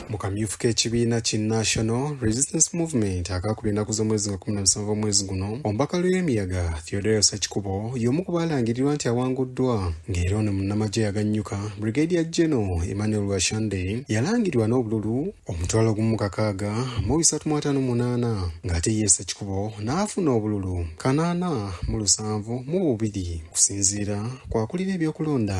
mu kamyufu k'ekibiina ki National Resistance Movement akakuba ennaku z'omwezi nga kumi na musanvu omwezi guno omubaka Luyemiyaga Theodore Sakikubo y'omu ku baalangirirwa nti awanguddwa ng'era ono munnamagye yagannyuka Brigadier General Emmanuel Washande yalangirwa n'obululu omutwalo gumu kakaaga mu bisatu mu ataano munaana ng'ate ye Sakikubo n'afuna obululu kanaana mu lusanvu mu bubiri kusinziira kwakulira ebyokulonda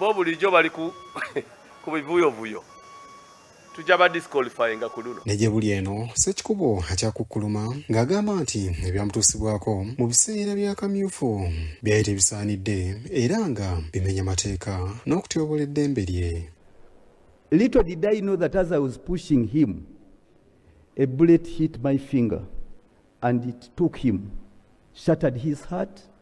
Bo bulijjo bali ku ku bivuyovuyo. Tujja ba disqualifyinga ku luno. Ne gye buli eno, Ssekikubo akyakukkuluma ng'agamba nti ebyamutuusibwako mu biseera bya Kamyufu byali tebisaanidde era nga bimenya mateeka n'okutyobola eddembe lye. Little did I know that as I was pushing him, a bullet hit my finger and it took him, shattered his heart.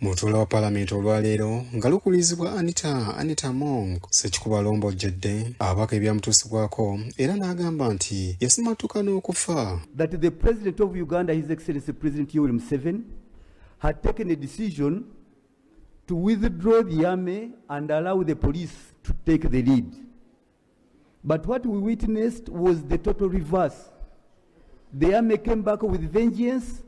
mu lutuula wa palamenti olwaleero nga lukulizibwa anita anita mong sekikuba lombojjedde abaka ebyamutuusibwako era n'agamba nti yasimattuka n'okufa that the president of uganda his excellency president yoweri museven had taken a decision to withdraw the army and allow the police to take the lead But what we witnessed was the total reverse. The army came back with vengeance.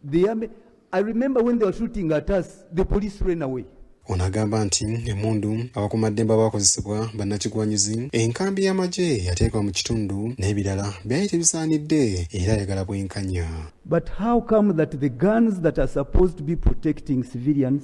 The army, I remember when they were shooting at us, the police ran away. ono agamba nti emundu abakumaddembe abakozesebwa bannakigwanyizi enkambi y'amagye yateekwa mu kitundu n'ebirala byali tebisaanidde era ayagala bwenkanya but how come that the guns that are supposed to be protecting civilians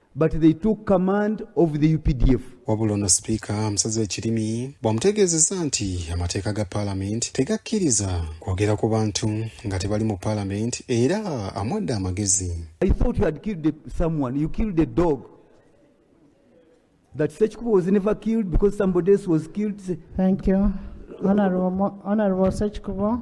but they took command of the updf wabula ono sipiika amusaze ekirimi bwamutegeezezza nti amateeka ga paalamenti tegakkiriza kwogera ku bantu nga tebali mu paalamenti era amwadde amagezi that such people was never killed because somebody else was killed. Thank you. Honorable, Honorable Sechkubo.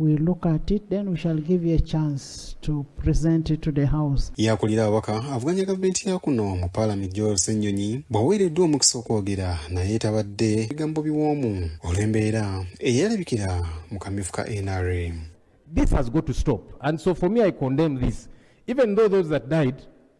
We look at it, then we shall give you a chance to present it to the house. Yakulira ababaka avuganya gavumenti ya kuno mu paalami Joel Ssenyonyi bw'aweereddwa omukisa okwogera naye tabadde bigambo biwoomu olw'embeera eyalabikira mu kamyufu ka NRM. This has got to stop and so for me I condemn this even though those that died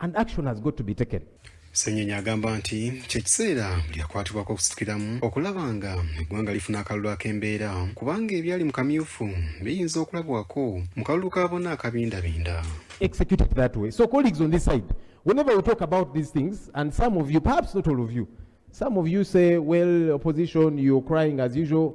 and action has got to be taken. Senyenya agamba nti kyekiseera buli akwatibwako okusitukiramu okulaba nga eggwanga lifuna akalulu ak'embeera kubanga ebyali mu kamyufu biyinza okulabwako mu kalulu ka bona akabindabinda execute it that way so colleagues on this side whenever we talk about these things and some of you perhaps not all of you some of you say well opposition you're crying as usual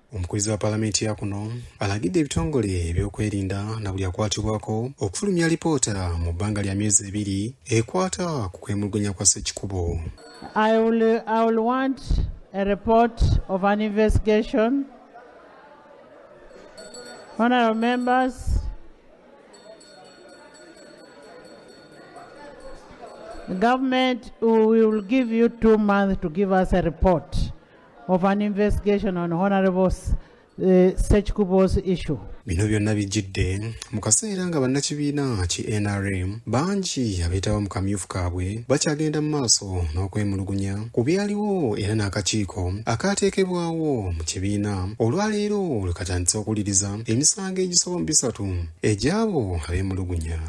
Omukubiriza wa palamenti ya kuno alagidde ebitongole ebyokwerinda na buli akwatibwako okufulumya alipoota mu bbanga lya myezi ebiri ekwata ku kwemulugunya kwa Ssekikubo. I will, I will want a report of an investigation. Honorable members, government, we will give you two months to give us a report of an investigation on honorable eh, Sechkubo's issue. Bino byonna bijjidde mu kaseera nga bannakibiina ki nrm bangi abeetaba mu kamyufu kaabwe bakyagenda mu maaso n'okwemulugunya ku byaliwo era n'akakiiko akaateekebwawo mu kibiina olwaleero lwe katandise okuwuliriza emisango egisoba mu bisatu egy'abo abeemulugunya